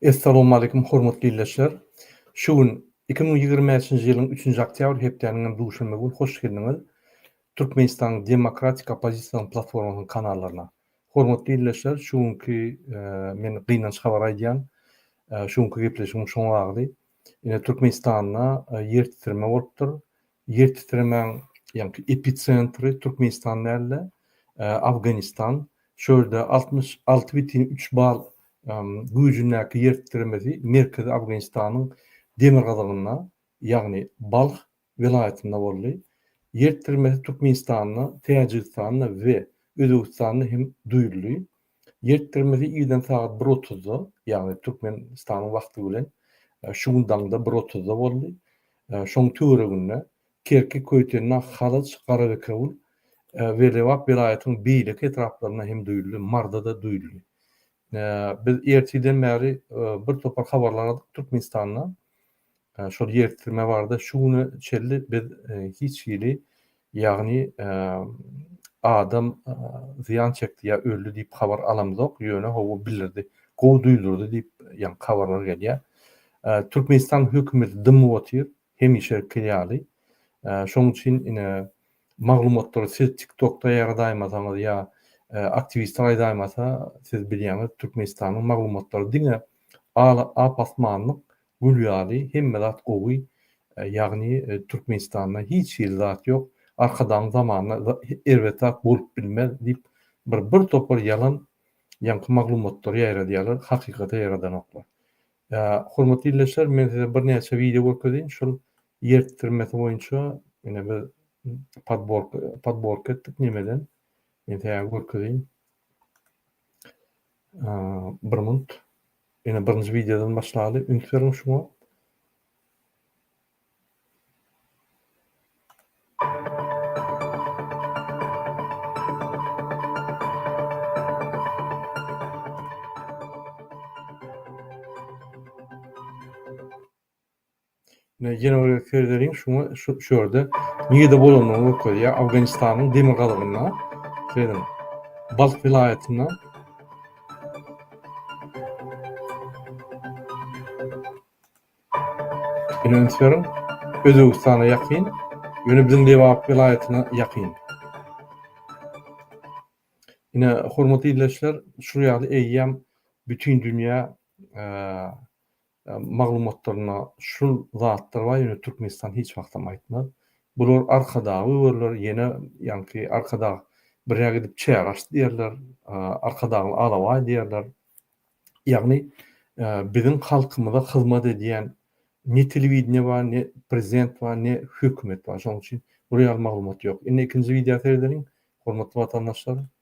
Essalawmaleýkum hormatly ildeşler! Şu gün iki müň ýigrimi bäşinji ýylyň üçünji oktýabr hepdäniň hem duşenbe gün hoş geldiňiz Türkmenistanyň demokratik oppozisiýasynyň platformasynyň kanallaryna. Hormatly ildeşler şu günki men gynanç habar aýdýan şu günki gepleşigim şoň agzy. Ine Türkmenistanda ýertitreme bolupdyr. Ýer titremäň ýaňky epicentri Türkmenistan däl-de, Afganistan. Şu ýerde altmyş alty bütin üç bal güýjündäki ýer titremesi Merkezi Afganistanyň demirgazygynda, ýagny Balh welaýatynda boldy. Ýer titremesi Türkmenistanda, Täjigistanda we Özbegistanda hem duýuldy. Ýertgirimizi irden sagat bir otuzda, ýagny Türkmenistanyň wagty bilen şu gün daňda bir otuzda boldy. Şoň töwereginde Kerki, Köýtendag, Halaç, Garabekewül we Lebap welaýatynyň beýleki etraplarynda hem duýuldy, Marda-da duýuldy. Biz ertirden bäri birtopar habarlar aldyk Türkmenistanda şol ýertdirme barada şu güne çenli biz hiç hili, ýagny adam zyýan çekdi ýa öldi diýip habar alamzok, ýöne hawa bildirdi, gowy duýdurdy diýip ýaňky habarlar gelýär. Türkmenistan hökümeti dymyp otyr, hemişeki ýaly. Şonuň üçin ine maglumatlary siz TikTokda ýaýradaýmasaňyz ýa aktiwistler aýdaýmasa, siz bilýäňiz Türkmenistanyň maglumatlary diňe al-ap-asmanlyk, Gül ýaly hemme zat gowy ýagny Türkmenistanda hiç hili zat ýok Arkadagyň zamanynda erbet zat bolup bilmez diýip bir bir topar ýalan ýaňky maglumatlary ýaýradýarlar hakykaty ýaradanoklar. Hormatly ildeşler men size bir näçe wideo görkezeýin şol ýertdirmesi boýunça ine biz podborka etdik nemeden men size görkezeýin. Bir minut. Ýene birinji wideodan başlaly. Üns beriň şuňa. Jenowe Ferderiň şuňa şu ýerde nirede bolandygyny görkezýär. Awganystanyň demirgazygynda, seziniň, Balh welaýatynda. Ýöne üns beriň, Özbegistana ýakyn, ýöne biziň Lebap welaýatyna ýakyn. Ine, hormatly ildeşler, şul ýaly eýýäm Bütindünýä maglumatlarynda şul zatlar bar ýöne Türkmenistan hiç wagtam aýtmaz. Bular arkadagy öwerler ýene ýaňky arkadag birä gidip çäre açdy diýerler, arkadagly alabaý diýerler. Ýagny biziň halkymyza hyzmat edýän ne telewideniýe bar, ne prezident bar, ne hökümet bar. Şonuň üçin bur ýaly maglumat ýok. Indi ikinji wideo seredeliň hormatly watandaşlar.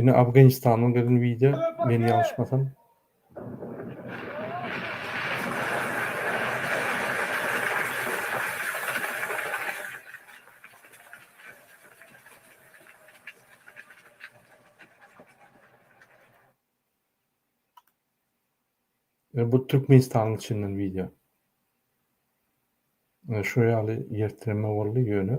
Ine Afganistanyň gyzyn wideo men ýalňyşmasam. E bu Türkmenistanyň içinden wideo. E şo ýaly ýertireme boldy ýöne.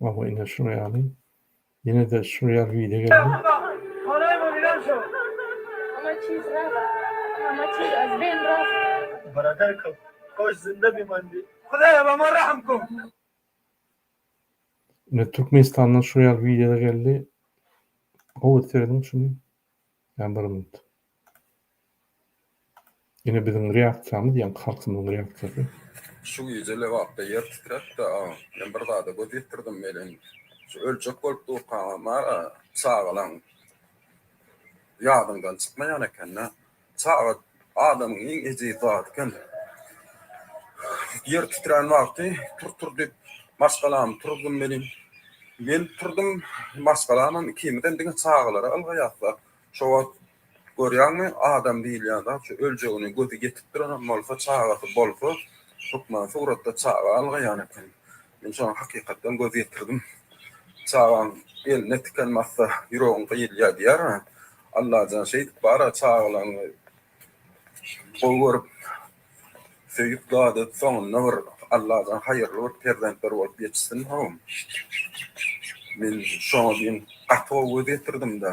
Awa ine şuňa ýaly. Ýene-de şu ýaly wide geldi. Ine Türkmenistandan şu ýaly wideolar geldi. Gowy seredin şuny. Ýa bir minut. Ine biziň reaksiýamyz ýaňky halkymyzyň reaksiýasy. Şu gije Lebapda ýer titrepdi agam. Men bir zada göz ýetirdim welin, şu öljek bolup durkaňam-a çagalaň ýadyňdan çykmaýan eken-dä. Çaga adamyň iň ejiz zady eken. Ýer titrän wagty tur-tur diýip maşgalamy turuzdymy welin, men turdum, maşgalamam ikimizem diňe çagalara ylgaýas da, şo wagt görýäňmi, adam diýilýän zat şu öljegine gözi ýetip duranam bolsa, çagasy bolsa, hökman suratda çaga ylgaýan eken. Men şoňa hakykatdan göz ýetirdim. Çagaň eline tiken batsa, ýüregiň gyýylýar diýýär. Allajan şeýdip bar-a, çagalaryňy gowy görüp, söýüp dadyp, soňunda bir Allajan haýyrly bir perzentler bolup ýetişsin-how. Men şoňa diýen gaty gowy göz ýetirdim-dä.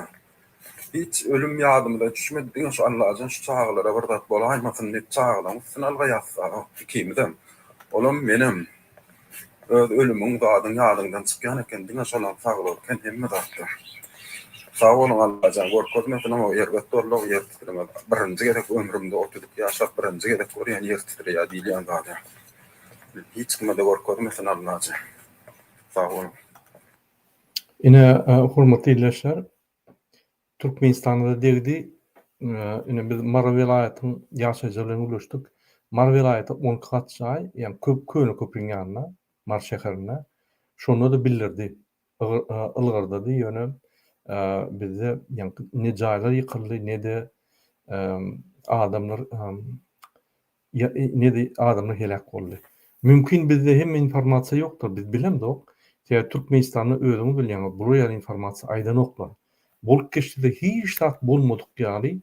Hiç ölüm ýadymyza düşmedi, diňe şu Allajan şu çagalara bir zat bolaýmasyn diýip çagalaň üstüne alga ýassaok ikimizem. Olam menem. Öz ölümiň zadyň ýadyňdan çykýan eken, diňe şolam sag bolken hemme zatda. Sag boluň Allajan görkezmesin oňa erbet zorluk ýer titreme birinji gezek ömrümde otuz iki ýaşap birinji gezek görýän ýer titreýär diýilýän zada. Hiç kime-de görkezmesin Allajan. Sag boluň. Ine, hormatly ildeşler, Türkmenistanda-da degdi. Ine, biz Mary welaýatyň ýaşaýjylary bilen gürleşdik. Mary welaýaty on iki gat jaý, ýagny köp köne köprüň ýanynda, Mary şäherinde. Şonda-da bildirdi, ylgardady, ýöne bizde ýaňky ne jaýlar ýykyldy, ne-de adamlar Ýa nezi adamlar heläk boldy. Mümkin bizde hemme informasiýa ýokdyr biz bilemzok. Sebäbi Türkmenistanda özüňiz bilýäňiz bular ýaly informasiýa aýdanoklar. Bolup geçdide hiç zat bolmadyk ýaly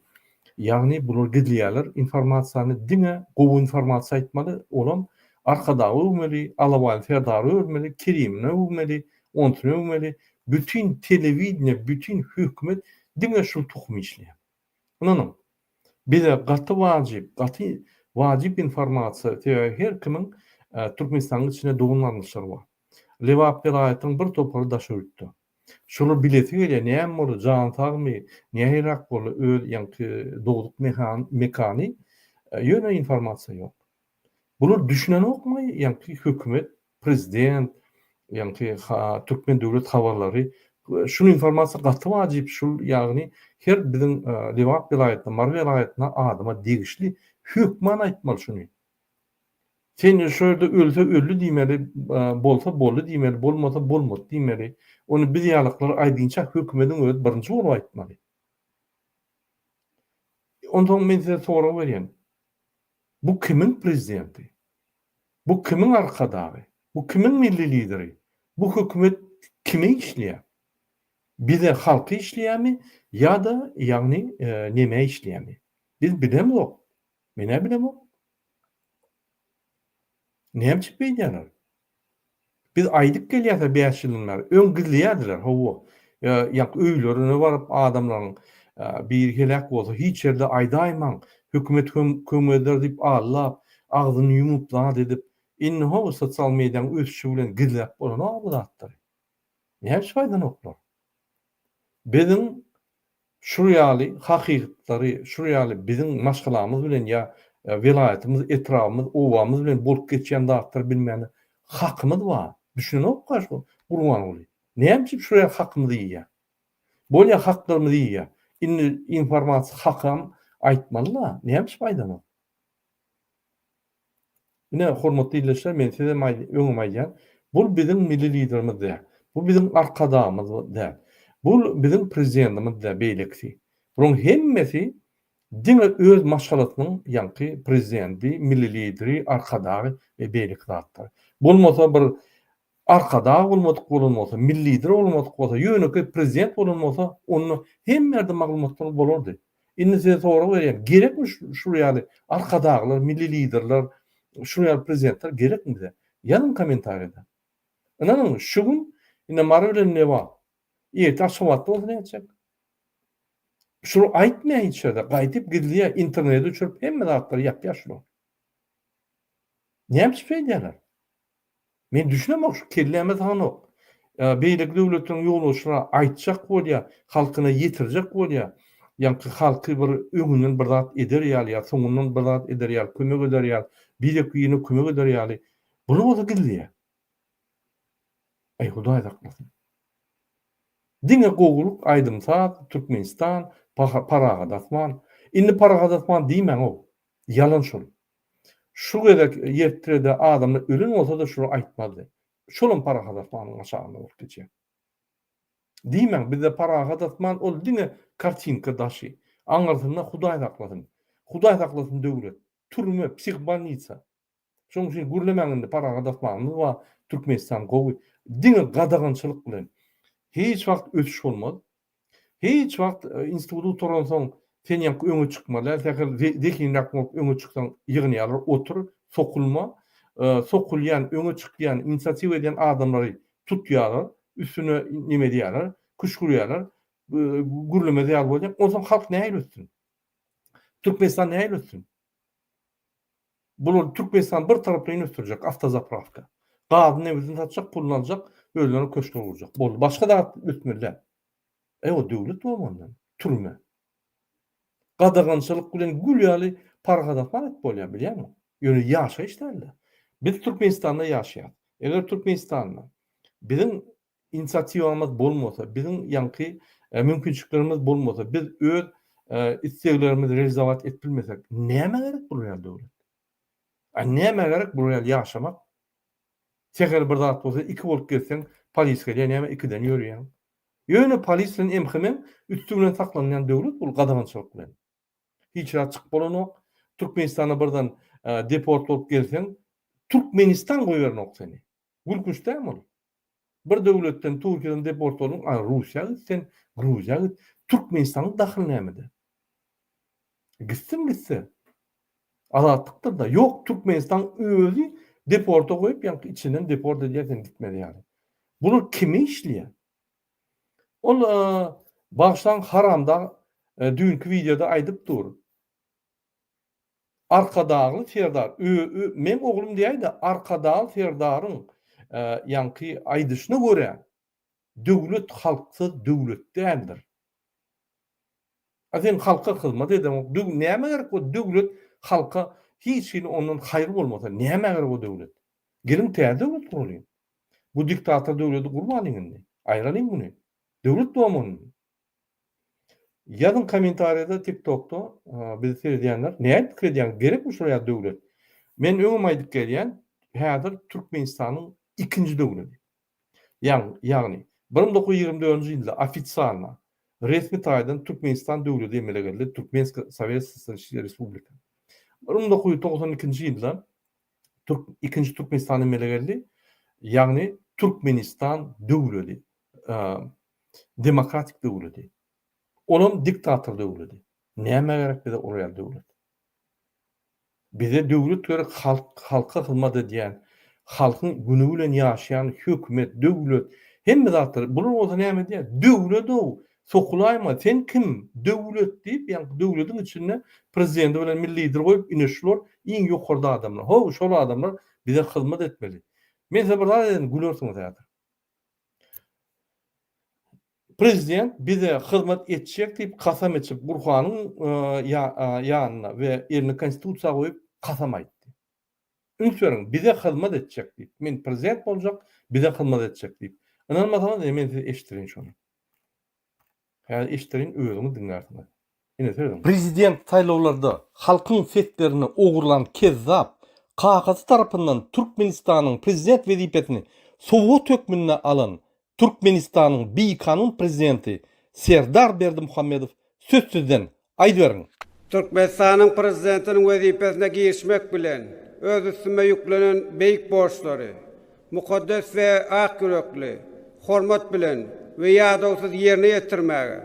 ýagny bular gizleýäler informasiýany diňe gowy informasiýa aýtmaly olam Arkadagy öwmeli, Alabaýly Serdary örmeli, Kerimini öwmeli, onsyny öwmeli, bütin telewideniýe, bütin hökümet diňe şul tohum işleýär. Ynanyň, bize gaty wajyp, gaty wajyp informasiýa, sebäbi her kimiň Türkmenistanyň içinde dogan-garyndaşlary bar. Lebap welaýatynyň bir topary Daşoguzda. Şolar bilesi gelýär, näme boldy, jany sagmy, nähilirak boldy, öz ýaňky dogduk mekany, ýöne informasiýa ýok. Bular düşünenokmy ýaňky hökümet Prezident, ýagny Türkmen döwlet habarlary şul informasiýa gaty wajyp, şul ýagny her biziň Lebap welaýatyna, Mary welaýatyna adama degişli hökman aýtmaly şuny. Sen şo ýerde ölse öldi diýmeli, bolsa boldy diýmeli, bolmasa bolmady diýmeli. Ony biz ýalyklar aýdynça hökümediň özi birinji bolup aýtmaly. Onsoň men size sorag berýän. Bu kimiň prezidenti? Bu kimiň Arkadagy? Bu kimiň Milli Lideri? Bu hökümet kime işleýär? Bize halka işleýärmi ýa-da ýagny nemä işleýärmi? Biz bilemzok. Menä bilemok. Näme üçin beýdýärler? Biz aýdyp gelýäsä bäş ýyldan bäri, öň gizleýärdiler, hawa, ýaňky öýlerine baryp adamlaryň biri heläk bolsa hiç ýerde aýdaýmaň, hökümet kömek eder diýip allap, agzyny ýumup zat edip, indi hawa sosial mediýaň ösüşi bilen gizläp bolanok bu zatlary. Näçe aýdanoklar. Biziň Şul ýaly hakykytlary, şul ýaly biziň maşgalamyz bilen ýa welaýatymyz, etrabymyz, obamyz bilen bolup geçýän zatlary bilmäne hakymyz bar. Düşünenokka şu Gurbanguly. Näme üçin şul ýaly hakymyzy iýýär? Bolýa haklarymyzy iýýär. Indi informasiýa hakam aýtmaly-la. Näme üçin aýdanok? Ine, hormatly ildeşler, men size öňem aýdýan, bul biziň Milli Liderimiz däl, bu biziň Arkadagymyz däl, bul biziň Prezidentimiz däl, beýlekisi. Bularyň hemmesi diňe öz maşgalasynyň ýaňky Prezidenti, Milli Lideri, Arkadagy we beýleki zatlary. Bolmasa bir Arkadag bolmadyk bolan bolsa, milli lider bolmadyk bolsa, ýönekeý prezident bolan bolsa, onda hemme ýerde maglumatlar bolardy. Indi size sorag berýän, gerekmi şul ýaly arkadaglar, milli liderler, şul ýaly prezidentler gerekmi bize? Ýazyň kommentariýada. Ynanyň, şu gün indi Mary bilen Newa, ertir Aşgabatda bolsa nätjek? Şular aýtmaýar hiç ýerde, gaýdyp gizleýär, internete düşürip hemme zatlary ýapýar şular. Näme üçin şeýdýärler? Men düşünemok şu kelläme sagnok. Beýleki döwletleriň ýolbaşçylary aýtjak bolýa, halkyna ýetirjek bolýa, ýaňky halky bir öňünden bir zat eder ýaly ýa soňundan bir zat eder ýaly kömek eder ýaly, birek birine kömek eder ýaly bunu bolsa gizleýä. Aý Hudaý saklasyn. Diňe gowulyk aýdym saz, Türkmenistan, parahat asman. Indi parahat asman diýmäňow. Ýalan şol. Şu gezek ýetrede adamlar ölen bolsa-da şuny aýtmazdy. Şolam Parahat Osmanyň gaçagynda bolup geçýär. Diýmäň, bizde Parahat Osman ol diňe kartinka daşy. Aňyrsynda Hudaý saklasyn. Hudaý saklasyn döwlet. Türme, psihbolnitsa. Şonuň üçin gürlemäň indi Parahat Osmanymyz bar, Türkmenistan gowy. Diňe gadagançylyk bilen hiç wagt ösüş bolmaz. Hiç wagt instituty gutaransoň sen ýaňky öňe çykmalä, sähel zehinräk bolup öňe çyksaň ýygnýarlar, otur, sokulma, sokulýan, öňe çykýan, inisiatiwa edýän adamlary tutýarlar, üstüne neme edýärler, küşgürýärler, gürlemez ýaly bolýar, onsoň halk nähili ötsün? Türkmenistan nähili ötsün? Bular Türkmenistany bir taraplaýyn ösdürjek, awtozapravka. Gazyny, nebidini satjak, puluny aljak, özlerine köşkler gurjak. Boldy. Başga zat ösmeli däl. Eý o döwlet bolmanda türme. Gadagançylyk bilen gül ýaly parahat asman edip bolýar bilýäňmi? Ýöne ýaşaýyş dälde. Biz Türkmenistanda ýaşaýas. Eger Türkmenistanda biziň inisiatiwamyz bolmasa, biziň ýaňky mümkinçiliklerimiz bolmasa, biz öz isleglerimizi realizowat edip bilmesek, nämä gerek bular ýaly döwlet? A nämä gerek bular ýaly ýaşamak? Sähel bir zat bolsa, iki bolup gezseň, polis gelýär, näme ikiden ýörýäň? Ýöne polis bilen MHM-iň üsti bilen saklanylýan döwlet bul gadagançylyk bilen. Hiç zat çykyp bolanok. Türkmenistana birden deport bolup gelseň, Türkmenistan goýbernok seni. Gülkünç dämi ol? Bir döwletden Türkiýeden deport bolduň, a Russiýa git sen, Gruziýa git. Türkmenistanyň dahyly nämede? Gitsin gitse. Azatlykdyr-da. Ýok, Türkmenistan özi deporta goýup, ýaňky içinden deport edýär sen gitmeli ýaly. Bular kime işleýär? Ol bagyşlaň haramdag düýnki wideoda aýdyp dur. Arkadagly Serdar ö-ö meň oglum diýäýdä Arkadagly Serdaryň ýaňky aýdyşyna görä Döwlet halksyz döwlet däldir. A sen halka hyzmat edeňok döw nämä gerek bu döwlet halka hiç hili ondan haýry bolmasa nämä gerek o döwlet. Geliň täze döwlet guralyň. Bu diktator döwleti gurmalyň indi. Aýralyň muny. Döwlet bolmalyň. Ýazyň komentarýada tik tokda bizi seredýänler nädip pikir edýäňiz gerekmi şular ýaly döwlet. Men öňem aýdyp gelýän häzir Türkmenistanyň ikinji döwledi. Ýaň ýagny bir müň dokuz ýüz ýigrimi dördünji ýylda ofitsialna resmi taýdan Türkmenistan döwledi emele geldi Türkmenska Sowet Sosýalistiska Respublika. Bir müň dokuz ýüz togsan ikinji ýylda Türk ikinji Türkmenistan emele geldi ýagny Türkmenistan döwledi demokratik döwledi. Olam diktator döwledi. Näme gerek bize ol ýaly döwlet? Bize döwlet gerek halk, halka hyzmat edýän, halkyň güni bilen ýaşaýan hökümet, döwlet, hemme zatlar. Bular bolsa näme diýýär? Döwlet-ow, sokulaýma, sen kim? Döwlet diýip, ýaňky döwletiň içinde prezidenti bilen milli lideri goýup, ine şular iň ýokarda adamlar. Ho, şol adamlar bize hyzmat etmeli. Men size bir zat aýdaýyn, gülersiňiz häzir. Prezident bize hyzmat etjek diýip kasam içip Gurhanyň ýanyna we elini konstitusiýa goýup kasam aýtdy. Üns beriň, bize hyzmat etjek diýip. Men prezident boljak, bize hyzmat etjek diýip. Ynanmasaňyz ine men size eşitdirin şony. Häzir eşderin özüňiz diňlärsiňiz. Ine sözüň. Prezident saýlawlarda halkyň seslerini ogurlan kezzap kakasy tarapyndan Türkmenistanyň prezident wezipesini sowgat hökmünde alan Türkmenistanyň bikanun prezidenti Serdar Berdimuhamedow sözsüzden Aýdyberiň! Türkmenistanyň Prezidentiniň wezipesine girişmek bilen, öz üstüme ýüklenen beýik borçlary mukaddes we ak ýürekli, hormat bilen we ýadawsyz ýerine ýetirmäge,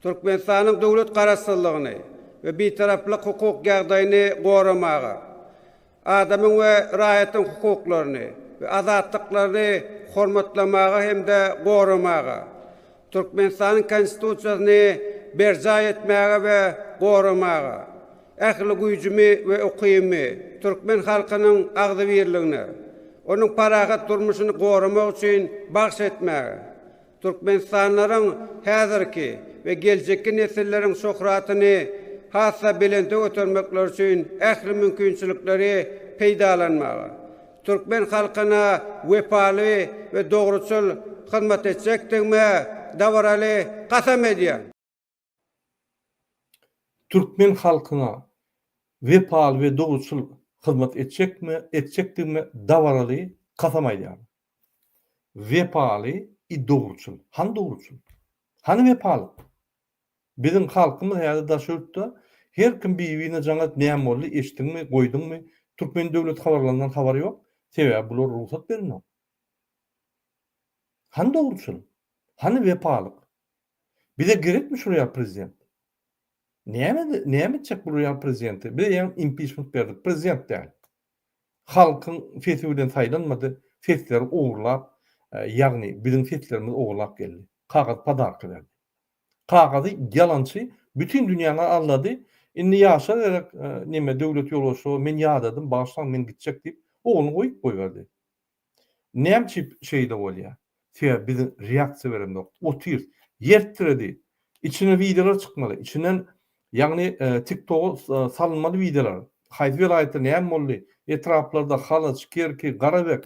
Türkmenistanyň döwlet Garaşsyzlygyny we Bitaraplyk hukuk ýagdaýyny goramaga, Adamyň we raýatyň hukuklaryny we azatlyklaryny hormatlamaga hem-de goramaga, Türkmenistanyň Konstitusiýasyny berjaý etmäge we goramaga, ähli güýjümi we ukybymy türkmen halkynyň agzybirligine, onuň parahat durmuşyny goramak üçin bagş etmäge, Türkmenistanlylaryň häzirki we geljekki nesilleriň şöhratyny has-da belente götermekleri üçin ähli mümkinçilikleri peýdalanmaga, türkmen halkyna wepaly we dogruçyl hyzmat etjekdigime dabaraly kasam edýän. Türkmen halkyna wepaly we dogruçyl hyzmat etjekme, etjekdigime dabaraly kasam aýdýaryn. Wepaly i dogruçyl. Hany dogruçyl? Hany wepalyk? Biziň halkymyz häzir daş ýurtda her kim bi-bine jaň edip näme boldy, eşitdiňmi, goýduňmy, türkmen döwlet habarlaryndan habary ýok, sebäbi bular rugsat berenok. Hany dogruçyl? Hany wepalyk? Bize gerekmi şu real prezident? Näme näme etjek bu real prezidenti? Biz eýýäm impiçment berdik, prezident däl. Halkyň sesi bilen saýlanmady, sesleri ogurlap, e, ýagny biziň seslerimizi ogurlap geldi. Kagyz padarka berdi. Kagyzy ýalançy bütin dünýäni aldady. Indi ýaşa gerek, e, neme döwlet ýolbaşçy, men ýadadym, bagyşlaň, men gitjek diýip, ogluny goýup goýberdi. Näme üçin şeýle bolýar? Sebäbi biz reaksiýa berendokdyr. Otyrys. Ýer titredi. Içine wideolar çykmaly. Içinden ýagny TikToga salynmaly wideolar. Haýsy welaýatda näme boldy? Etraplarda Halaç, Kerki, Garabek.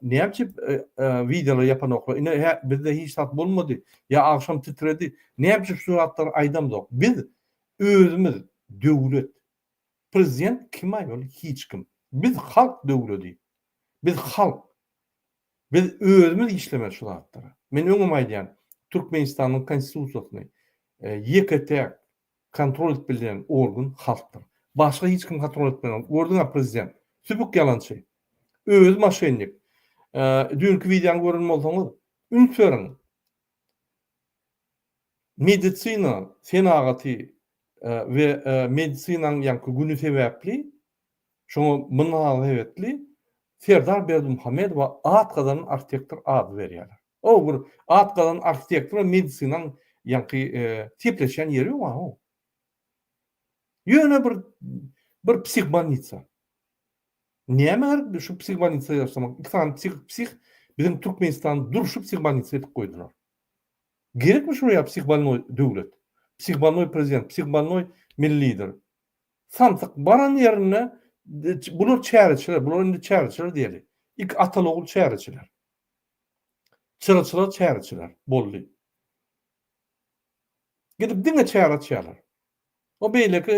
Näme üçin wideolar ýapanoklar? Ine hä bizde hiç zat bolmady. Ýa agşam titredi. Näme üçin şu zatlary aýdamzok? Biz özümiz döwlet. Prezident kima ýol hiç kim. Biz halk döwledi. Biz halk. Biz özümiz işlemeli şu zatlara. Men öňem aýdýan Türkmenistanyň konstitusiýasyny ýeke täk kontrol edip bilýän organ halkdyr. Başga hiç kim kontrol edip bilmez. Gördüňa prezident sübük ýalançy. Özi maşennik. Düýnki wideony gören bolsaňyz üns beriň. Medisina senagaty we medisinanyň ýaňky güni sebäpli, şoňa mynasebetli Serdar Berdimuhamedowa at gazanan arhitektor ady berýärler. O bir at gazanan arhitektor we medisinanyň ýaňky sepleşýän ýeri ýok-a-o. Ýöne bir bir psihbanitsa. Näme gerek şu psihbanitsa ýasamak? Iki sany psih psih biziň Türkmenistan durşy psihbanitsa edip goýdular. Gerekmi şuraya psihbannoý döwlet? Psihbannoý prezident, psihbannoý milli lider. Samsyk baran ýerinde bular çäreçiler, bular indi çäreçiler diýeli. İk ataly ogul çäreçiler. Çyraçylar çäreçiler boldy. Gidip diňe çäre açýarlar. O beýleki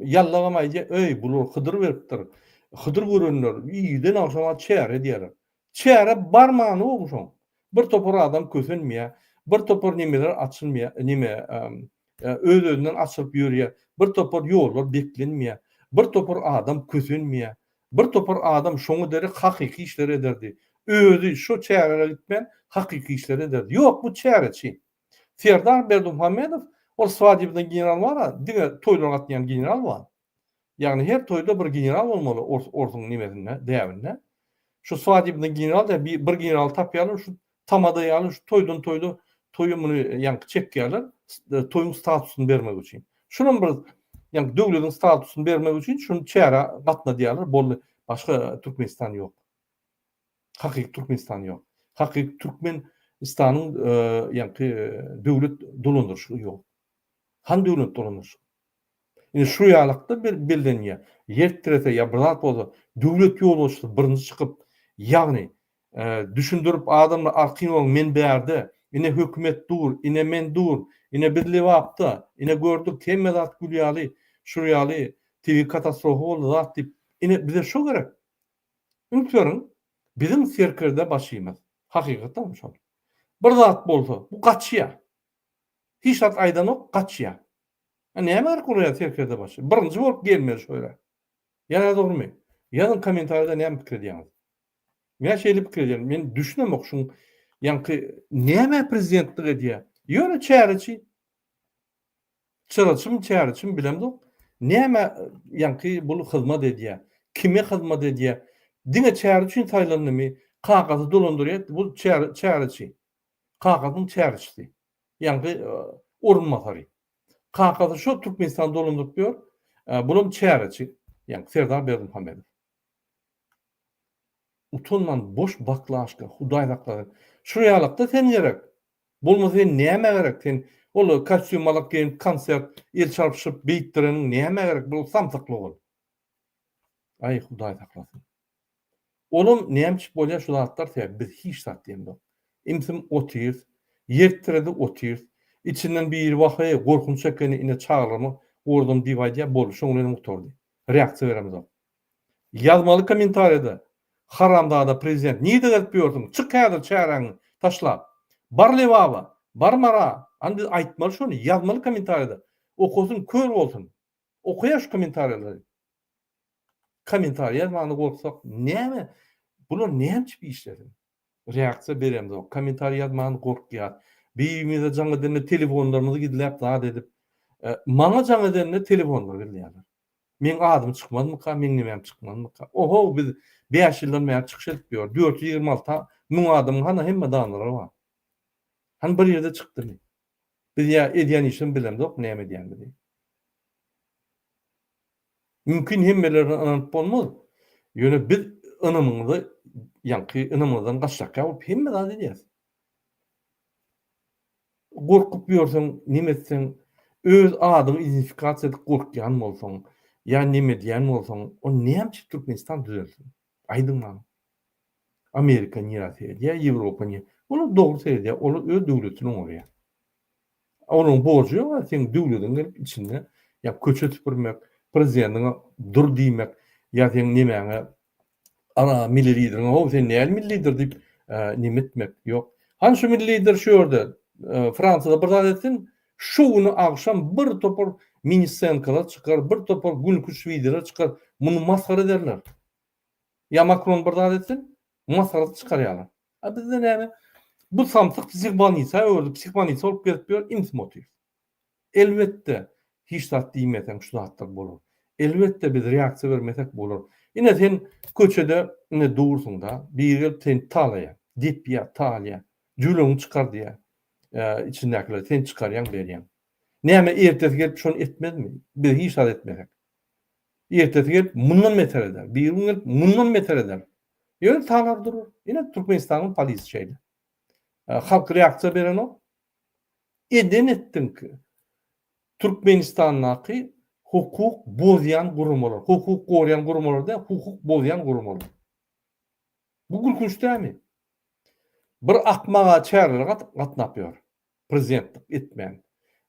ýallagam aýdýar, öý, bular Hydyr beripdir. Hydyr görenler irden agşam wagt çäre edýärler. Çäre bar many bor şoň. Bir topar adam kösenmeýär, bir topar nemeler açylmaýar, neme, öz-özünden açylyp ýörýär, bir topar ýollar beklenmeýär, bir topar adam kösenmeýär. Bir topar adam şoňa derek hakyky işleri ederdi. Özi şo çärelere gitmän hakyky işleri ederdi. Ýok, bu çäreçi. Serdar Berdimuhamedow ol swadibna general bar-a, diňe toýlara gatnaýan general bar. Ýagny her toýda bir general bolmaly orsuň nimesinde, däbinde. Şu swadibna general diýen bir generaly tapýarlar, şu Tamada ýaly şu toýdan toýda toýa muny ýaňky çekýärler toýuň statusyny bermek üçin. Şunam bir ýaňky döwletiň statusyny bermek üçin şun çärä gatnadýarlar boldy başga Türkmenistan ýok. Hakyky Türkmenistan ýok. Hakyky Türkmen istanyň ýaňky döwlet dolandyryşygy ýok. Han döwlet dolandyryşygy. Indi şu ýalakda bellenýär. Ýer tirese ýa bir zat bolsa, döwlet ýolbaşçysy birinji çykyp, ýagny, düşündirip adamlar arkin boluň men bärde, ine hökümet dur, ine men dur, ine biz Lebapda, ine gördük hemme zat gül ýaly, şur ýaly tebigy katastrofa boldy zat diýip, ine bize şo gerek. Üns beriň, biziň serkerdebaşymyz, hakykatdanam şol. Bir zat bolsa, bu gaçýar. Hiç zat aýdanok, gaçýa. A näme gerek olar ýa serkerde başy. Birinji bolup gelmeli şo ýere. Ýa-da dogrymy? Ýazyň komentarida näme pikir edýäňiz. Men şeýle pikir edýän. Men düşünemok şuň ýaňky näme prezidentlik edýä. Ýöne çäreçi. Çyraçym çäreçim bilemzok. Näme ýaňky bul hyzmat edýä. Kime hyzmat edýä. Diňe çäre üçin saýlandymy. Kagyzy dolandyrýa. Bul çäreçi. Kakasynyň çärçisi. Ýaňky orunbasary. Kakasy şo Türkmenistany dolandyryp ýör. Bulam çäreçi. Ýaňky Serdar Berdimuhamedow. Utanman boş baklaşka, Hudaý saklasyn. Şuny alakda sen gerek. Bolmasa sen näme gerek? Sen ol kostýum malak geýinip konsert el çarpyşyp beýtdireniň näme gerek? Bu samsyklyk ol. Aý Hudaý saklasyn. Olam nämçip bolýa şu zatlar sebäp biz hiç zat diýemzok. Imsim otyrs, ýer tiredi otyrs. Içinden biri wah eý gorkunç ekeni ine çagalramy gordum diýip aýdýa boldy şoň bilenem gutardy. Reaksiýa beremzok. Ýazmaly kommentariýada haramzada prezident nirde gezip ýörsüň çyk häzir çäräňi taşlap bar lebaba bar mara and aýtmaly şony ýazmaly kommentariýada okasyn kör bolsun. Okaýa şu komentarýalary. Komentariý ýazmany gorksak näme bular näme içip işlesin. Reaksiýa beremzok. Komentariý ýazmany gorkýas. Birimize jaň edende telefonlarymyzy gizläp zat edip. Maňa jaň edende telefonlary gizleýärler. Meň adym çykmazmyka meň nimem çykmazmyka. Oho biz bäş ýyldan bäri çykyş edip ýör. Dört ýüz ýigrimi alty müň adamyň hany hemmedanlara bar. Hany bir ýerde çykdymy. Biz ýa edýän işimizi bilemzok näme edýänimizi. Mümkin hemmelerine ynanyp bolmaz. Ýöne biz ynamyňyzy ýaňky ynamyňyzdan gaçjakýa bolup hemme zat edýäs. Gorkup ýörseň neme etseň öz adyňy identifikasiýa edip gorkýan bolsaň ýa neme edýän bolsaň o näme üçin Türkmenistan düzelsin. Aýdyň maňa. Amerika nirä seredýär, Ýewropa nirä? Olar dogry seredýär, olar öz döwletini oňarýar. Olaryň borjy ýok a seň döwlediň gelip içinde ýa köçe süpürmek, prezidentiňe dur diýmek, ýa seň nemäňe ara milli lideriňe how sen näl milli lider diýip neme etmek, ýok. Hany şu milli lider şu ýerde Fransiýada bir zat etsin, Şu güni agşam bir topar miniscenkalar çykar, bir topar günki şwidiler çykar, muny masgara ederler. Ýa Makron bir zat etsin, masgarasy çykarýarlar. A bizde näme? Bu samsyk psihbolnisa öwrüldi, psihbolnisa bolup gezip ýör, iňsi motiw. Elbetde, hiç zat diýmeseň şu zatlar bolar. Elbetde biz reaksiýa bermesek bolar. Ine sen köçede ine dursuň-da, biri gelip seni talaýar, depýär, talaýar, jüwleňi çykar diýýär. içindäkileri sen çykarýaň, berýäň. Näme, ertesi gelip şony etmezmi? Biz hiç zat etmesek. Ertesi gelip mundan beter eder. Biri gün gelip mundan beter eder. Ýöne talar durur. Ine Türkmenistanyň polisi şeýle. Halk reaksiýa berenok. Eden etdiňki. Türkmenistandaky hukuk bozýan guramalar, hukuk goraýan guramalar däl, hukuk bozýan guramalar. Bu gülkünç dälmi? Bir akmaga çärelere gatnap ýör, prezidentlik etmän.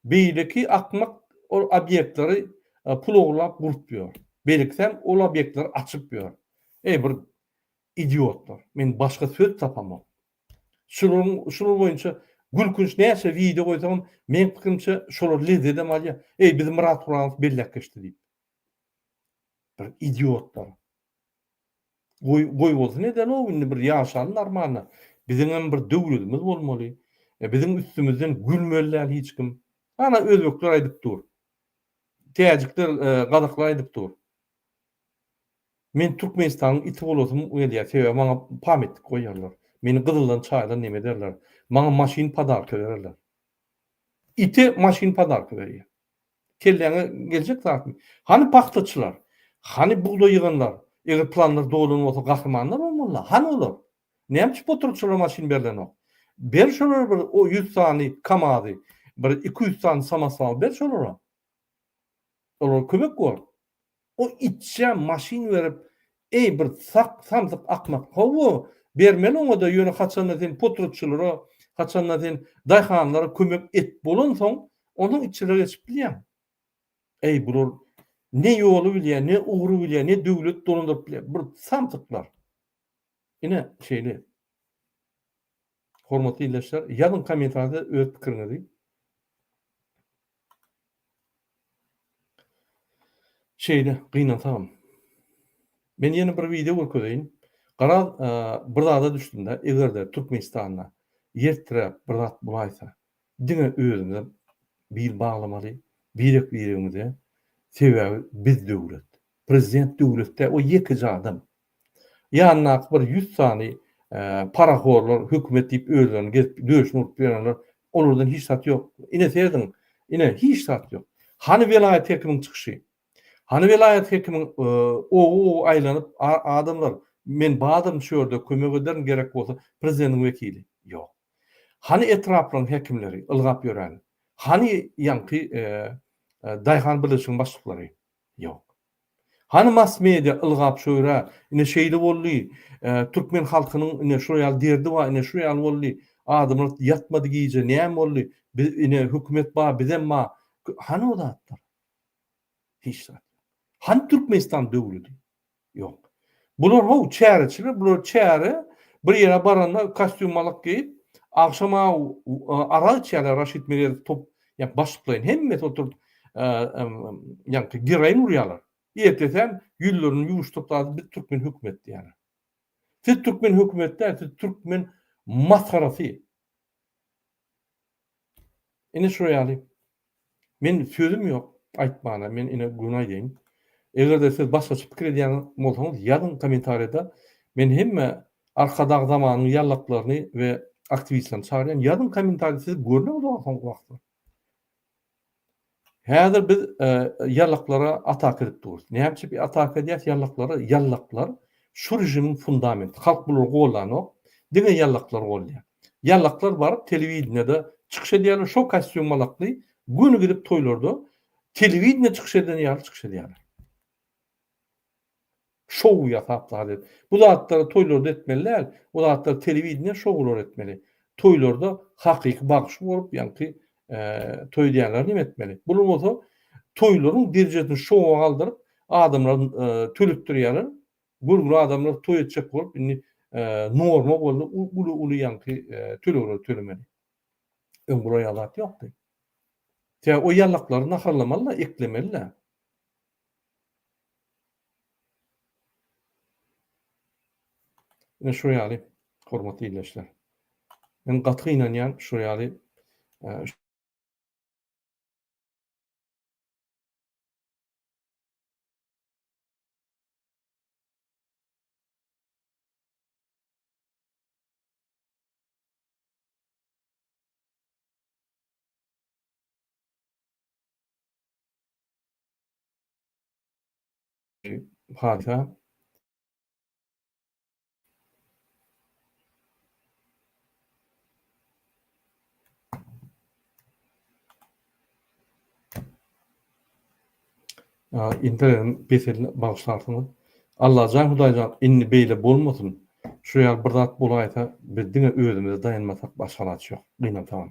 Beýleki akmak ol obýektleri pul ogurlap gurup ýör. Beýlekisem ol obýektleri açyp ýör. Eý bir idiotlar, men başga söz tapamok. Şular boýunça gülkünç näçe wideo goýsagam meň pikirimçe şolar lezzedem alýar, eý bizi Myrat Guranow belläp geçdi diýip. Bir idiotlar. Goý, goýbolsun eden-ow, indi bir ýaşalyň narmalna. Biziňem bir döwletimiz bolmaly. E, biziň üstümizden gülmeli däl hiç kim. Ana, özbekler aýdyp dur. Täjikler, e, gazaklar aýdyp dur. Men Türkmenistanyň iti bolasym gelýär, sebäbi maňa pametnik goýarlar. Meni gyzyldan, çaýdan neme ederler. Maňa maşyn podarka bererler. Ite maşyn podarka berýär. Kelläňe geljek zatmy? Hany pagtaçylar? Hany bugdaý ýyganlar? Eger planlar dolan bolsa gahrymanlar bolmalyda. Hany olar? Näme üçin poturk şolara maşyn berilenok? Ber şolara bir o ýüz sany kamazy, bir iki ýüz sany samoswal ber şolara. Olara kömek bol. O itçä maşyn berip, Eý, bir sak, samsyk akmak, hawa, bermeli oňa-da, ýöne haçanda sen potratçylara, haçanda sen daýhanlara kömek et bolansoň, onsoň itçilere geçip bilýäň. Eý, bular ne ýoly bilýär, ne ugry bilýär, ne döwlet dolandyryp bilýär, bir samsyklar. Ine, şeýle. Hormatly ildeşler, ýazyň kommentariýada öz pikiriňizi. Şeýle gynansagam. Men ýene bir wideo görkezeýin. Gara bir zada düşdüm-de, eger-de Türkmenistanda ýertiräp bir zat bolaýsa, Diňe özüňe bil baglamaly, birek biregiňize, sebäbi biz döwlet. Prezident döwlet däl, o ýekeje adam. Ýanyndaky bir ýüz sany parahorlar, hökümet diýip özlerini gezip döşüni urup ýörenler, olardan hiç zat ýok. Ine serediň, ine hiç zat ýok. Hany welaýat hekimiň çykyşy? Hany welaýat hekimiň ow-ow aýlanyp, adamlar, men badyryn şu ýerde, kömek ederin gerek bolsa, prezidentiň wekili? Ýok. Hany etraplaryň häkimleri, ylgap ýören? Hany ýaňky daýhan birleşiginiň başlyklary? Ýok. Hany mass-media, ylgap çöwre, ine şeýle boldy, türkmen halkynyň ine şular ýaly derdi bar, ine şular ýaly boldy, adamlar ýatmady gije, näme boldy, biz ine hökümet bar, bizem bar, hany o zatlar? Hiç zat. Hany Türkmenistan döwleti? Ýok. Bular how çäreçiler, bular çäre bir ýere baranda kostýum malyk geýip, agşam how arak içýärler Raşid Meredow top ýa başlyklaýyn hemmesi oturyp ýaňky geroin urýarlar. Ertesem ýüzlerini ýuwuşdyryp zady biz türkmen hökümet diýýärler. Siz türkmen hökümet däl, siz türkmen masgarasy. Ine şu ýaly. Men sözüm ýok aýtmana, men ine göni aýdaýyn. Eger-de siz başgaça pikir edýän bolsaňyz ýazyň kommentariýada. Men hemme Arkadag zamanyň ýallaklaryny we aktiwistlerini çagyrýan. Ýazyň kommentariýada sizi görmek isleýän soňky wagtlar. Häzir biz ýallaklara ataka edip durus. Näme üçin biz ataka edýäs ýallaklara? Ýallaklar şu režimiň fundamenti. Halk bulary goldanok. Diňe ýallaklar golýar. Ýallaklar baryp telewideniýede çykyş edýärler, şo kostýum malakly göni gidip toýlarda telewideniýede çykyş eden ýaly çykyş edýärler. Şou ýasap zat et. Bu zatlary toýlarda etmeli däl. Bu zatlary telewideniýe şoulary etmeli. Toýlarda hakyky bagşy bolup ýaňky toý edýänler neme etmeli. Bular bolsa toýlaryň derejesini şoua galdyryp adamlar töletdirýärler. Görgüli adamlar toý etjek bolup indi norma boldy uly uly ýaňky tölegleri tölemeli. Öň bular ýaly zat ýokdy. Sebäbi o ýallaklary naharlamaly-da, eklemeli-da. Ine şu ýaly, hormatly ildeşler. Men gaty gynanýan şu ýaly Hadysa Indenem peselini bagyşlarsyňyz. Allajan Hudaýjan indi beýle bolmasyn. Şu ýaly bir zat bolaýsa biz diňe özümize daýanmasak başga alaç ýok. Gynansaňam.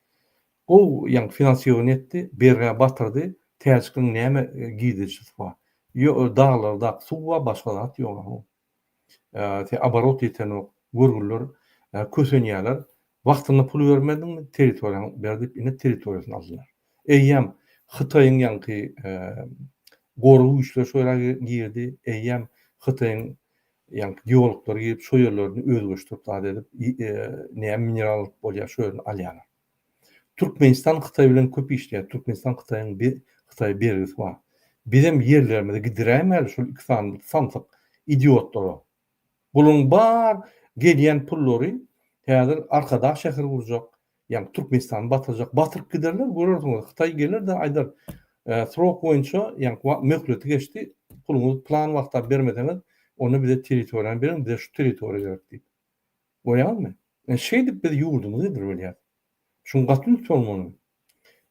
Gowy ýaňy finansiýowany etdi, bergä batyrdy, täjkiň näme girdejisi bar? Ýo daglardaky suw bar, başga zat ýok a ho. Tä oborot ýetenok, görgüliler kösenýärler, wagtynda pul bermediňmi, territoriýaňy ber diýip ine territoriýasyny aldylar. Eýýäm Hytaýyň ýaňky gorag güýçleri şo ýere girdi, eýýäm Hytaýyň Ýaňky geologlary gelip şo ýerlerini özgeçdirip zat edip näme mineral alyp bolýar şo ýerini alýarlar. Türkmenistan Hytaý bilen köp işleýär. Türkmenistan Hytaýyň Hytaýa bergisi bar. Bizem ýerlerimizi gidiräýmäli şol iki sany samsyk idiotlara. Bularyň bar gelýän pullary häzir Arkadag şäheri gurjak, Ýa Türkmenistany batyrjak batyryp giderler görersiňiz Hytaý geler-de aýdar srok boýunça ýa möhleti geçdi puluňyzy plan wagta bermeseňiz onda bize territoriýany beriň bize şu territoriýa gerek diýip. Görýäňizmi? Ine şeýdip biz ýurdumyzy edil bilýäs. Şuň gaty üns bolmaly.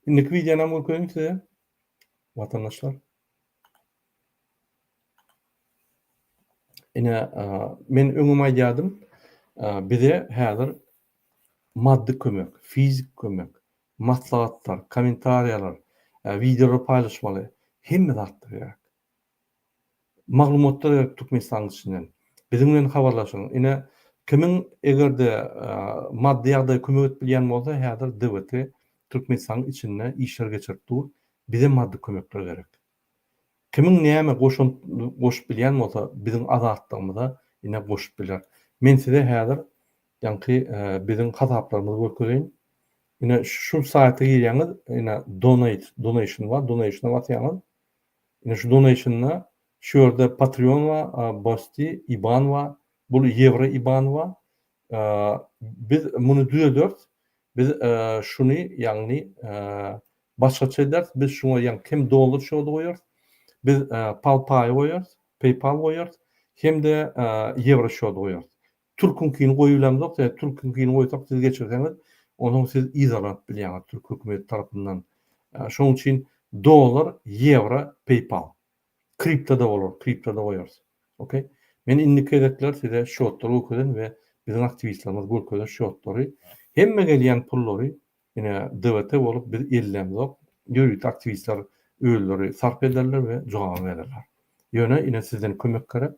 Indiki wideonam görkeziň size watandaşlar. Ine men öňem aýdýadym bize häzir Maddy kömek, fiziki kömek, maslahatlar, kommentariýalar, wideolar paýlaşmaly, hemme zatda gerek. Maglumatlar gerek Türkmenistanyň içinden. Biziň bilen habarlaşyň. Ine, kimiň eger-de maddy ýagdaýy kömek edip bilýän bolsa, häzir DWT Türkmenistanyň içinde işler geçirip dur. Bize maddy kömekler gerek. Kimiň näme goşant goşup bilýän bolsa biziň azatlygymyza ine goşup biler. Men size häzir ýaňky biziň hasaplarymyzy görkezeýin. Ine şu saýta girýäňiz ine donate donation bar donationa basýaňyz. Ine şu donationda şu ýerde patreon bar bosty iban bar bul ýewro iban bar. Biz muny düzederis. Biz şuny, ýagny, başgaça ederis, biz şuňa ýaňy hem dollar şody goýarys, biz PalPay goýarys, PayPal goýarys, hem-de ýewro şody goýarys. Türküňkini goýup bilemzok, ýa türküňkini goýsak siz geçirseňiz, onuň siz yzarlanyp bilýäňiz türk hökümeti tarapyndan. Şonuň üçin dollar, ýewro, PayPal. Kriptoda bolar, kriptoda goýarys. Ok. Men indiki gezekler size şotlary görkezen we biziň aktiwistlerimiz görkezen şotlary hemme gelýän pullary ine DVT bolup biz ellämzok. Ýörite aktiwistler özleri sarp ederler we jogabyny bererler. Ýöne ine sizden kömek gerek.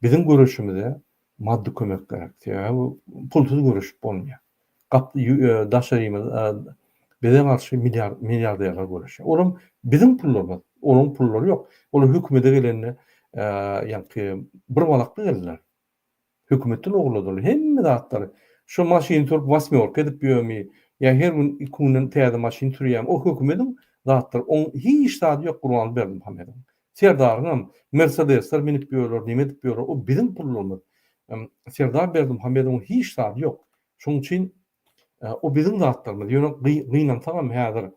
Biziň göreşimize maddy kömek gerek. Sebäbi bu pulsuz göreşip bolmaýar. gap ýü daşarymy bize garşy milliard milliarderler göreşýär. Olam biziň pullarymyz, olaň pullary ýok. Olar hökümede gelende ýaňky bir balakly geldiler. Hökümetden ogurladylar hemme zatlary. Şu maşyny turup wasmýorka edip ýörmi ýa her gün iki günden täze maşyn sürýämi o hökümediň zatlary oň hiç zady ýok Gurbanguly Berdimuhamedowyň. Serdaryňam mersedesler minip ýörler neme edip ýörler o biziň pullarymyz Serdar Berdimuhamedowyň hiç zady ýok şoň üçin o biziň zatlarymyz ýöne gynansagam häzir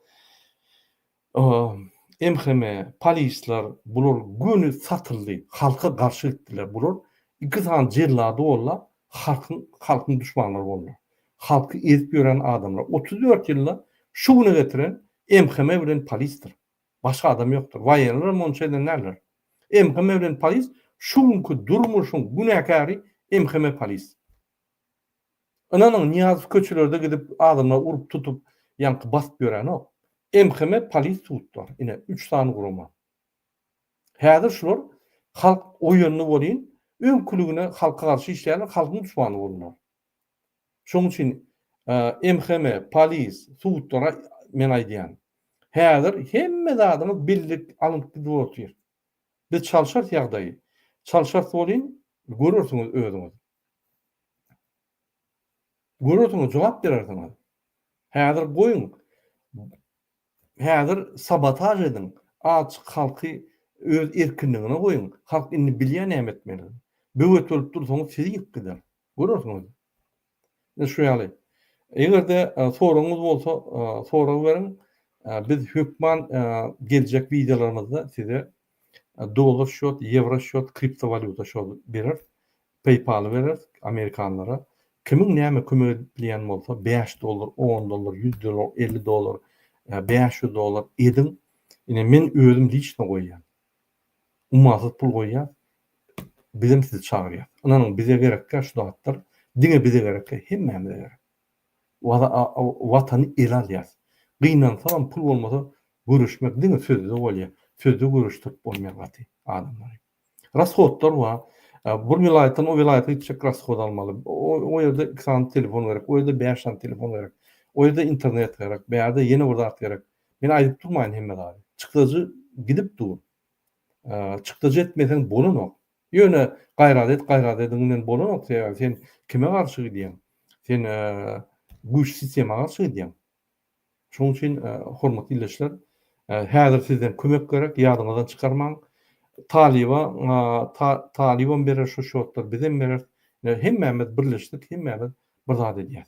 MHM polisler bular göni satyldy halka garşy gitdiler bular iki sany jellady bollar halkyň halkyň duşmanlary bollar halky ezip ýören adamlar otuz dört ýylda şu güne getiren MHM bilen polisdir Başga adam ýokdur. Waýeller monça eden däldir. MHM bilen polis şu günki durmuşyň günäkäri MHM polis. Ynanyň Nyýazow köçelerde gidip adamlary urup tutup ýaňky basyp ýörenok. MHM polis tutdular. Ine üç sany gurama. Häzir şular halk oýandy bolýyn öňküligine halka garşy işleýärler halkyň duşmany boldular. Şoň üçin MHM, polis, sudlara men aýdýan. Häzir hemme zadyňyz billik alnyp gidip otyr. Biz çalşarys ýagdaýy. Çalşarys welin görersiňiz özüňiz. Görersiňiz jogap berersiňiz. Häzir goýuň. Häzir sabotaž ediň. Açyk halky öz erkinligine goýuň. Halk indi bilýär näme etmelidigini. Böwet bolup dursaňyz sizi ýykyp gider. Görersiňiz. Ine şu ýaly. Eger-de soragyňyz bolsa, sorag beriň. Biz hökman geljek wideolarymyzda size dollar şot, ýewro şot, kriptowalýuta şot bereris. Peýpaly bereris amerikanlara. Kimiň näme kömek edilýän bolsa, bäş dollar, on dollar, ýüz dollar, elli dollar, bäş ýüz dollar ediň. Ine men özüm liçno goýýan. Ummasyz pul goýýas. Bizem sizi çagyrýas. Ynanyň bize gerekkä şu zatlar. Diňe bize gerekkä hemmämize gerek. Waza a watany ele alýas. Gynansagam pul bolmasa göreşmek diňe sözde bolýa. Sözde göreşdirip bolmaýar gaty adamlary. Rashodlar wa bir welaýatdan o welaýata gitjek rashod almaly. O ýerde iki sany telefon gerek. O ýerde bäş sany telefon gerek. O ýerde internet gerek. Bärde ýene bir zat gerek. Men aýdyp durmaýyn hemme zady. Çykdajy gidip dur. Çykdajy etmeseň bolanok. Ýöne gaýrat et, gaýrat ediň bilen bolanok. Sebäbi sen kime garşy gidýäň? Sen güýçli sistema garşy gidýäň. Şonuň üçin hormatly ildeşler, häzir sizden kömek gerek, ýadyňyzdan çykarmaň. Talyba, talybam berer şu şotlar, bizem bereris. Hemmämiz birleşdik, hemmämiz bir zat edýäs.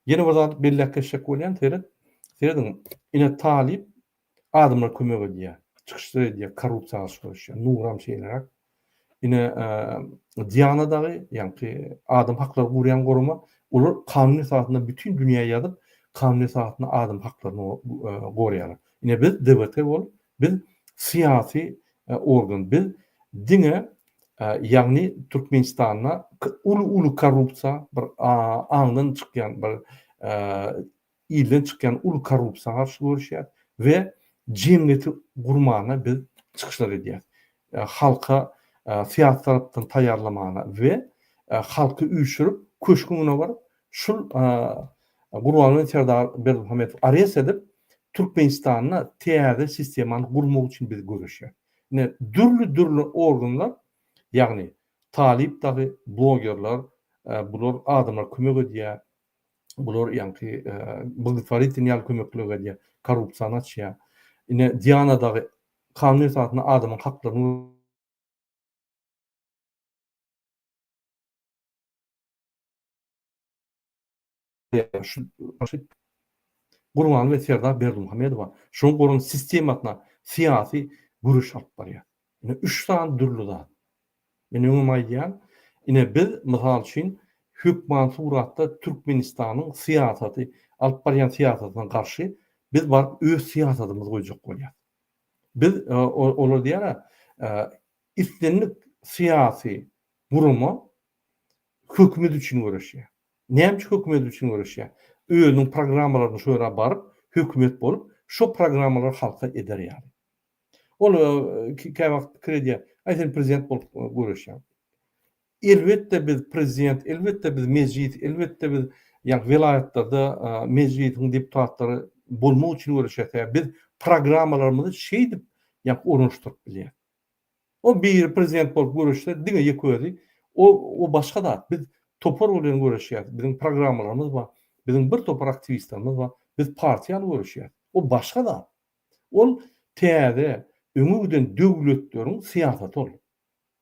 Ýene bir zat belläp geçjek bolýan, seret, serediň, ine talyp adamlar kömek edýär, çykyşlar edýär, korrupsiýa garşy göreşýär, Nuram şeýleräk, ine Diana dagy, ýaňky adam haklary gurýan gurama, olar kanun esasynda bütin dünýä ýazyp, kanun esasynda adam haklaryny gorýarlar. Ine biz DBT bolup, Biz syýasy organ, biz diňe ýagny Türkmenistanda uly uly korrupsiýa bir aňdan çykýan bir ilden çykýan uly korrupsiýa garşy göreşýäs we jemgyýeti gurmana biz çykyşlar edýäs. Halka syýasy tarapdan taýýarlamana we halky üýşürip köşküň öňüne baryp Şul Gurbanguly Serdar Berdimuhamedow arest edip, Türkmenistanda täze sistemany gurmak üçin biz göreşýäs. Ine, dürli-dürli organlar, ýagny talyp dagy, blogerler, bular adamlar kömek edýär, bular ýaňky blgtworitin ýaly kömekleri edýär, korrupsiýany açýar. Ine, Diana dagy kanun esasynda adamyň haklaryny. Gurbanguly we Serdar Berdimuhamedowa şoň guran sistemasyna syýasy göreş alyp barýar. Ine üç sany dürli zat. Men öňem aýdýan, ine biz mysal üçin hökman suratda Türkmenistanyň syýasaty, alyp barýan syýasatyna garşy biz baryp öz syýasadymyzy goýjak bolýar. Biz olar diýýär-ä, islendik syýasy gurama Hökümet üçin göreşýär. Näme üçin hökümet üçin göreşýär? Özüniň programmalaryny şu ýere baryp, hökümet bolup, şo programmalary halka eder ýaly. Ol kä wagt pikir edýär, Aý sen prezident bolup göreşýäň. Elbetde biz prezident, elbetde biz mejlis, elbetde biz ýa welaýatlarda mejlisiň deputatlary bolmak üçin göreşýäs. Biz programmalarymyzy şeýdip ýa ornaşdyryp bilýäs. O biri prezident bolup göreşse diňe ýeke özi o o başga zat biz topar bilen göreşýäs biziň programmalarymyz bar biziň bir topar aktiwistlerimiz bar biz partiýa ýaly göreşýäs o başga zat ol täze öňe giden döwletleriň syýasaty ol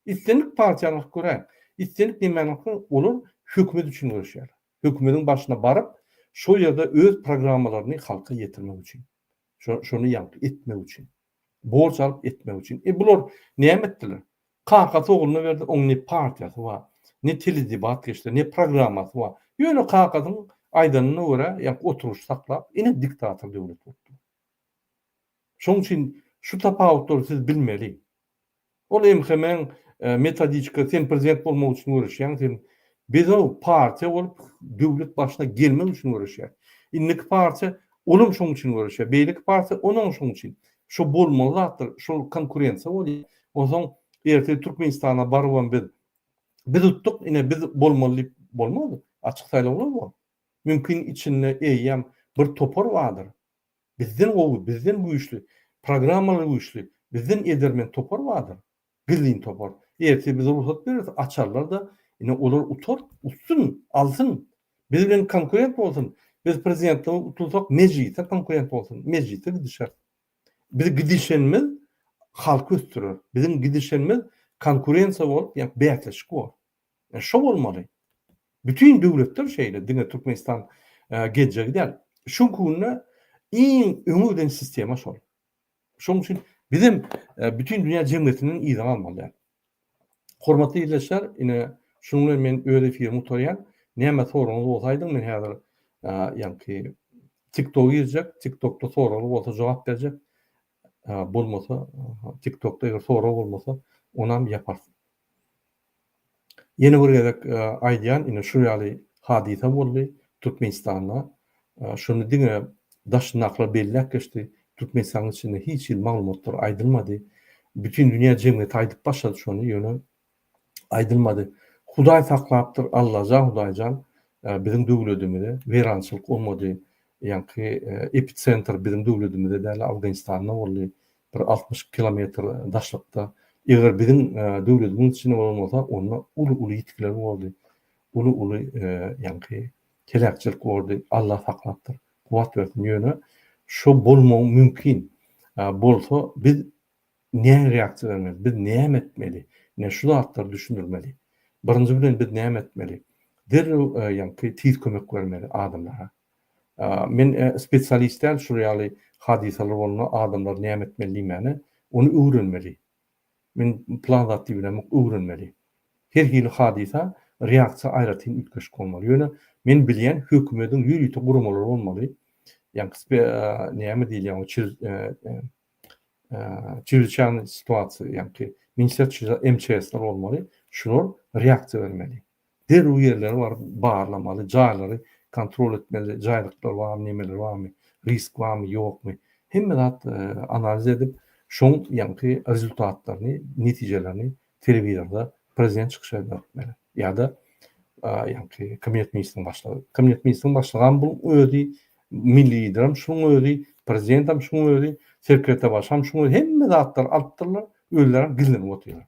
islendik partiýany alyp göräýiň islendik nemäni alyp göräýiň olar hökümet üçin göreşýärler hökümetiň başyna baryp şol ýerde öz programmalaryny halka ýetirmek üçin şo şony ýaňky etmek üçin. Borç alyp etmek üçin. E bular näme etdiler? Kakasy ogluna berdi, oň ne partiýasy bar, ne teledebat geçdi, ne programmasy bar. Ýöne kakasyň aýdanyna görä, ýa oturyş saklap, ine diktator döwlet bolupdyr. Şoň üçin şu tapawutlary siz bilmeli. Ol MHM-iň metodikasy, sen prezident bolmak üçin göreşýäň, sen bedel partiýa bolup döwlet başyna gelmek üçin göreşýäň. Indiki partiýa olam şoň üçin göreşýär, beýleki partiýa onam şoň üçin. Şo bolmaly zatdyr, şol konkurensiýa bolýar. Onsoň ertir Türkmenistana barybam biz, biz utdyk, ine biz bolmaly diýip bolmaz. Açyk saýlawlar bor. Mümkin içinde eýýäm bir topar bardyr. Bizden gowy, bizden güýçli, programmalary güýçli, bizden edermen topar bardyr. Gizlin topar. Ertir biz rugsat bereris, açarlar-da, ine, olar utar, utsyn, alsyn. Biz bilen konkurent bolsun. Biz prezidentlige utulsak, mejlise konkurent bolsun. Mejlise gidişeris. Biz gidişenimiz halky ösdürer. Biziň gidişenimiz konkurensiýa bolup, ýa bäsleşik bolar. E şo bolmaly. Bütin döwletler şeýle, diňe Türkmenistan geljegi däl. Şu günde iň öňe giden sistema şol. Şonuň üçin biz hem e, bütin dünýä jemgyýetinden yza galmaly. Hormatly ildeşler, ine şunuň bilen men öz efirimi gutarýan. Näme soragyňyz bolsa aýdyň, men häzir ýa-ki TikTok girjek, TikTokda soragy bolsa jogap berjek. bolmasa tiktokda eger sorag bolmasa onam ýaparys. Ýene bir gezek aýdýan ine şu ýaly hadysa boldy Türkmenistanda şony diňe daşyndakylar belläp geçdi Türkmenistanyň içinde hiç hili maglumatlar aýdylmady bütin dünýä jemgyýeti aýdyp başlady şony ýöne aýdylmady. Hudaý saklapdyr, Allaja Hudaýjan biziň döwledimize weýrançylyk olmady. Ýaňky epicentr biziň döwledimizde däl, Afganistanda boldy. Bir altmyş iki kilometr daşlykda. Eger biziň döwledimiň içinde bolan bolsa, onda uly-uly ýitgiler bordy. Uly-uly ýaňky heläkçilik bordy. Allah saklapdyr. Kuwwat bersin. Ýöne şo bolmagy mümkin. Bolsa biz Näme reaksiýa bermeli? Biz näme etmeli? Ine, şu zatlary düşündirmeli. Birinji bilen biz näme etmeli? Derrew, ýagny tiz kömek bermeli adamlara. Men spesialist däl, şu ýaly hadysalar bolanda adamlar näme etmeli diýmäne, ony öwrenmeli. Men plan zat diýip bilemok, öwrenmeli. Her hili hadysa reaksiýa aýratyn üýtgeşik bolmaly. Ýöne men bilýän hökümediň ýörite guramalary bolmaly. Ýagny näme diýilýär, Çeýleçäni situasiýa, ýaňky Minister MÇS-ler bolmaly, şular reaksiýa bermeli. Derrew ýerlere baryp barlamaly, jaýlary kontrol etmeli, jaýlyklar barmy, nemeler barmy, risk barmy, ýokmy. Hemme zat analiz edip, şoň ýaňky rezultatlaryny, netijelerini Telewizorda prezident çykyş edýär diýmeli. Ýa-da ýaňky kabinet ministriniň başlygy. Kabinet ministriniň başlygam bu özi milli liderim şunuň özi, prezidentem şunuň özi, sekretebaşam şunuň özi hemme zatlary alyp durlar, özlerem gizlenip otyrlar.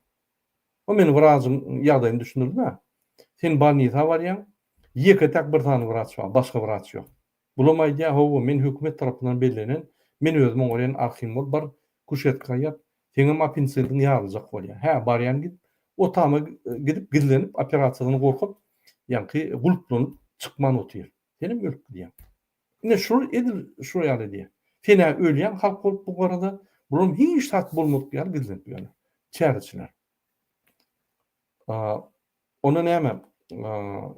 O meni wrajyň ýagdaýyny düşündirdi-de. Sen bolnisa barýaň, ýeke-täk bir sany wraç bar, başga wraç ýok. Bulam aýdýa hawa men hökümet tarapyndan bellenen men özüm oňarýan arhimol bar kuşetka gaýap seňem apinsidiň ýaryljak bolýa hä barýan git o tama gidip gizlenip operasiýadan gorkup ýaňky gulplanyp çykman otyr senem ölüp gidýäň ine şular edil şular ýaly edýä senä ölýäň halk bolup bu garada bulam hiç zat bolmadyk ýaly gizlenip ýörler çäreçiler. Onda näme?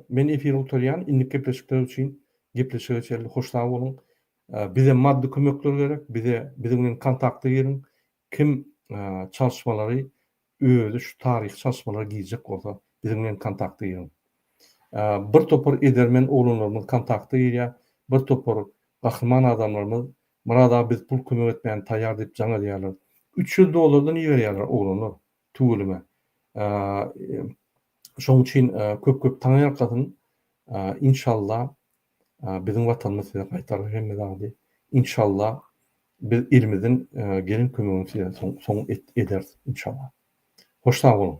Men efiri gutarýan, indik gepleşikler üçin gepleşige çenli hoş sag boluň. Bize maddy kömekler gerek, bize biziň bilen kontakta giriň. Kim çalyşmalary özi şu taryhy çalyşmalara girjek bolsa, biziň bilen kontakta giriň. Bir topar edermen oglanlarymyz kontakta girýär, bir topar gahryman adamlarymyz Murad aga biz pul kömek etmäne taýýar diýip jaň edýärler. Üç ýüz dollardan iberýärler oglanlar. Tüweleme. Şoň üçin köp köp taňaýalkasyn. Inşalla biziň watanymyz size gaýtarar hemme zady. Inşalla biz ilimiziň gelen kömegini size soň ederis inşalla. Hoş sag boluň.